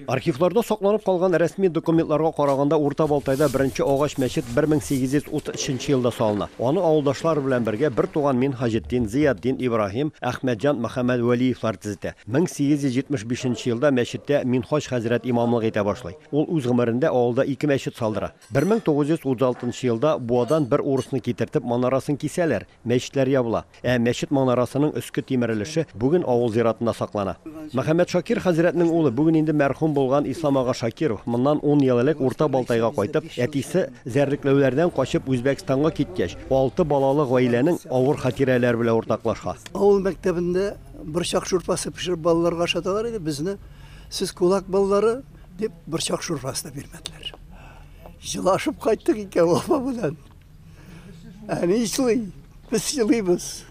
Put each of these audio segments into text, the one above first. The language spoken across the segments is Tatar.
Архивларда сакланып калган рәсми документларга караганда Урта Балтайда беренче агач мәчет 1833 елда салына. Аны авылдашлар белән бергә бер туган Мин Хаҗетдин, Зыятдин Ибраһим, Әхмәтҗан Мөхәммәд Вәлиевлар төзетә. 1875 елда мәчеттә Минһаҗ хәзрәт имамлык итә башлый. Ул үз гомерендә авылда ике мәчет салдыра. 1936 елда Буадан бер урысны китертеп манарасын кисәләр. Мәчетләр ябыла. Ә мәчет манарасының өске тимер өлеше бүген авыл зиратында саклана. Мөхәммәт Шакир хәзрәтнең улы, бүген инде мәрхүм булган Ислам ага Шакиров, моннан ун ел элек Урта Балтайга кайтып, әтисе зәрлекләүләрдән качып Үзбәкстанга киткәч, алты балалы гаиләнең авыр хатирәләре белән уртаклаша. Авыл мәктәбендә борчак шурпасы пешереп балаларга ашаталар иде, безне, Сез кулак балалары, дип, борчак шурпасы да бирмәделәр. Җылашып кайттык икәү апа белән. Ә ни эшли? Без елыйбыз.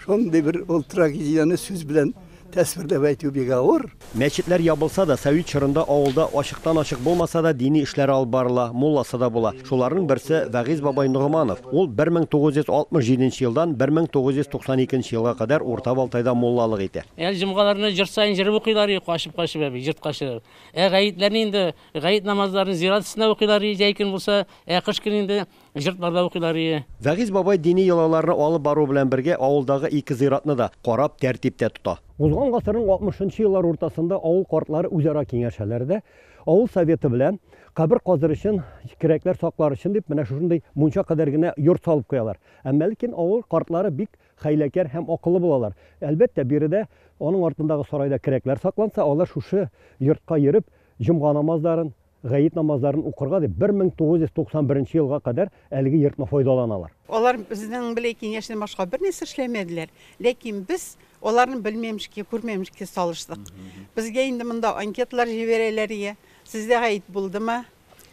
Шундый бер ул трагедияне сүз белән тәсвирләп әйтү бик авыр. Мәчетләр ябылса да, совет чорында авылда ачыктан-ачык булмаса да дини эшләр алып барыла, мулласы да була. Шуларның берсе, Вәгыйз бабай Ногыманов. Ул 1967 елдан 1992 елга кадәр Урта Балтайда муллалык итә. Әр җомгаларны җыр саен җыр укыйлар иде, качып-качып, әби, җырткачлар. Ә гаетләрне инде Гает намазларын зират өстенә укыйлар ие, җәй көн булса, ә кыш көн инде йортларда укыйлар ие. Вәгыйзь бабай дини йолаларны алып бару белән бергә авылдагы ике зиратны да карап, тәртиптә тота. Узган гасырның алтмышынчы еллар уртасында авыл картлары үзара киңәшәләр дә, авыл советы белән кабер казыр өчен, керәкләр саклар өчен дип, менә шушындый мунча кадәр генә йорт салып куялар. Әмма ләкин авыл картлары бик хәйләкәр һәм акыллы булалар. Әлбәттә, биредә, аның артындагы сарайда керәкләр сакланса, алар шушы йортка йөреп, Җомга намазларын, гает намазларын укырга дип 1991 елга кадәр әлеге йортны файдаланалар. Алар безнең беләй киңәштән башка бернәрсә эшләмәделәр, ләкин без аларны белмәмешкә, күрмәмешкә салыштык. Безгә инде монда анкеталар җибәрәләр иде, сездә гает булдымы,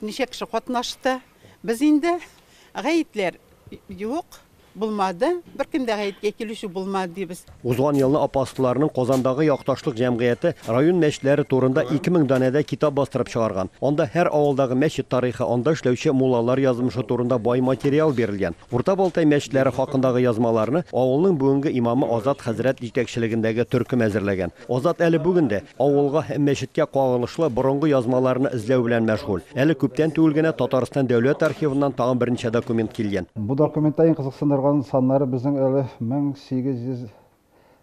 ничә кеше катнашты. Без инде гаетләр юк, Булмады, беркем дә гаеткә килүче булмады, дибез. Узган елны апостолларның Казандагы якташлык җәмгыяте район мәчетләре турында 2000 данәдә китап бастырып чыгарган. Анда һәр авылдагы мәчет тарихы, анда эшләүче муллалар язмышы турында бай материал бирелгән. Урта Балтай мәчетләре хакындагы язмаларны авылның бүгенге имамы Азат хәзрәт җитәкчелегендәге төркем әзерләгән. Азат әле бүген дә, Авылга һәм мәчеткә кагылышлы борынгы язмаларны эзләү белән мәшгуль. Әле күптән түгел генә Татарстан Дәүләт архивыннан тагын берничә документ килгән. Бу документта иң кызыксындырган саннары безнең әле 1800,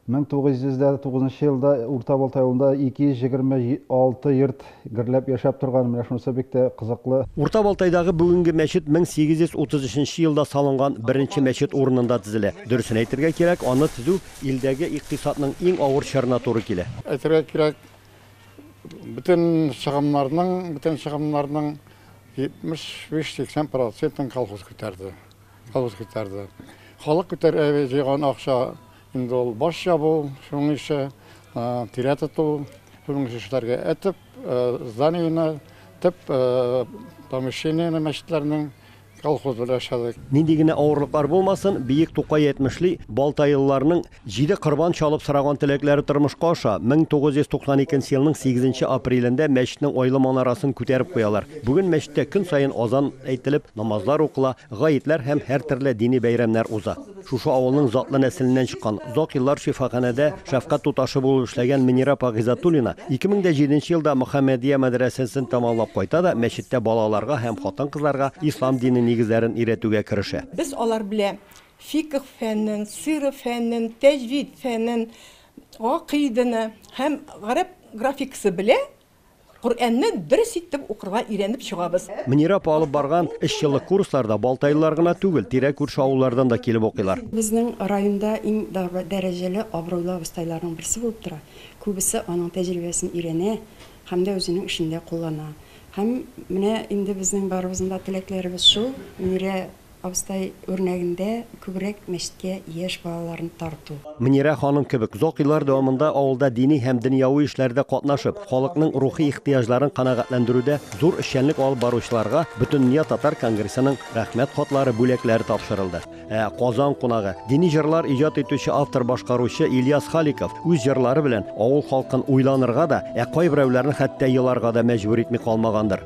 1909 нчы елда Урта Балтай авылында 226 йорт гөрләп яшәп торган, менә шунысы бик тә кызыклы. Урта Балтайдагы бүгенге мәчет 1833 нчы елда салынган беренче мәчет урынында тезелә. Дөресен әйтергә кирәк, аны тезү Илдәге икътисадның иң авыр чорына туры килә. Әйтергә кирәк, бөтен чыгымнарның, бөтен чыгымнарның 75-80 процентын колхоз күтәрде. Колхоз күтәрде. Халык күтәрә җыйган акча инде ул баш ябу, шуның ише, тирә тоту, шуның ише эшләргә. Ә төп зданиене, төп помещениене мәчетләрнең Колхоз белән эшләдек. Нинди генә авырлыклар булмасын, Биек Тукай әйтмешли, балтаелыларның җиде корбан чалып сораган теләкләре тормышка аша. 1992 елның 8 апрелендә мәчетнең айлы манарасын күтәреп куялар. Бүген мәчеттә көн саен азан әйтелеп, намазлар укыла, гаетләр һәм һәртөрле дини бәйрәмнәр уза. Шушы авылның затлы нәселеннән чыккан, озак еллар шифаханәдә шәфкать туташы булып эшләгән Мөнирә апа Гыйззәтуллина 2007 нче елда Мөхәммәдия мәдрәсәсен тәмамлап кайта да мәчеттә балаларга һәм хатын-кызларга ислам дине нигезләрен өйрәтүгә керешә. Без алар белән фикх фәнен, сирә фәнен, тәҗвид фәнен, гакыйдәне һәм гарәп графикасы белән Коръәнне дөрес итеп укырга өйрәнеп чыгабыз. Мөнирә апа алып барган өч еллык курсларда балтайлылар гына түгел, тирә-күрше авыллардан да килеп укыйлар. Безнең районда иң дәрәҗәле, абруйлы абыстайларның берсе булып тора. Күбесе аның тәҗрибәсен өйрәнә һәм дә үзенең эшендә куллана. Һәм менә инде безнең барыбызның да теләкләребез шул, Мөнирә Абыстай үрнәгендә күбрәк мәчеткә яшь балаларны тарту. Мөнирә ханым кебек озак еллар дәвамында авылда дини һәм дөньяви эшләрдә катнашып, халыкның рухи ихтыяҗларын канәгатьләндерүдә зур эшчәнлек алып баручыларга Бөтендөнья татар конгрессының Рәхмәт хатлары бүләкләре тапшырылды. Ә Казан кунагы, дини җырлар иҗат итүче автор-башкаручы Ильяс Халиков үз җырлары белән авыл халкын уйланырга да, ә кайберәүләрен хәтта еларга да мәҗбүр итми калмагандыр.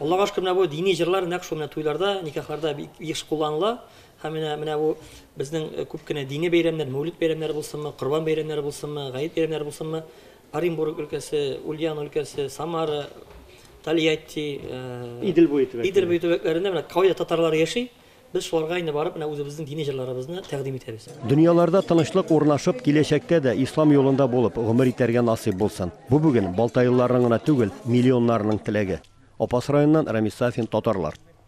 Аллага шөкер, менә бу дини җырлар нәкъ шул менә туйларда, никахларда бик еш кулланыла. Һәм менә, менә бу безнең күп кенә дини бәйрәмнәр, Мәүлид бәйрәмнәре булсынмы, Корбан бәйрәмнәре булсынмы, Гает бәйрәмнәре булсынмы, Оренбург өлкәсе, Ульян өлкәсе, Самара, Тольятти, Идел буе төбәкләре. Идел буе төбәкләрендә менә Кави татарлары яши. Без шуларга инде барып менә үзебезнең дини җырларыбызны тәкъдим итәбез. Дөньяларда тынычлык урнашып, киләчәктә дә ислам юлында булып гомер итәргә насыйп булсын. Бу бүген балтаелыларның гына түгел, миллионнарның теләге. Апас районыннан Рамис Сафин, Татарлар.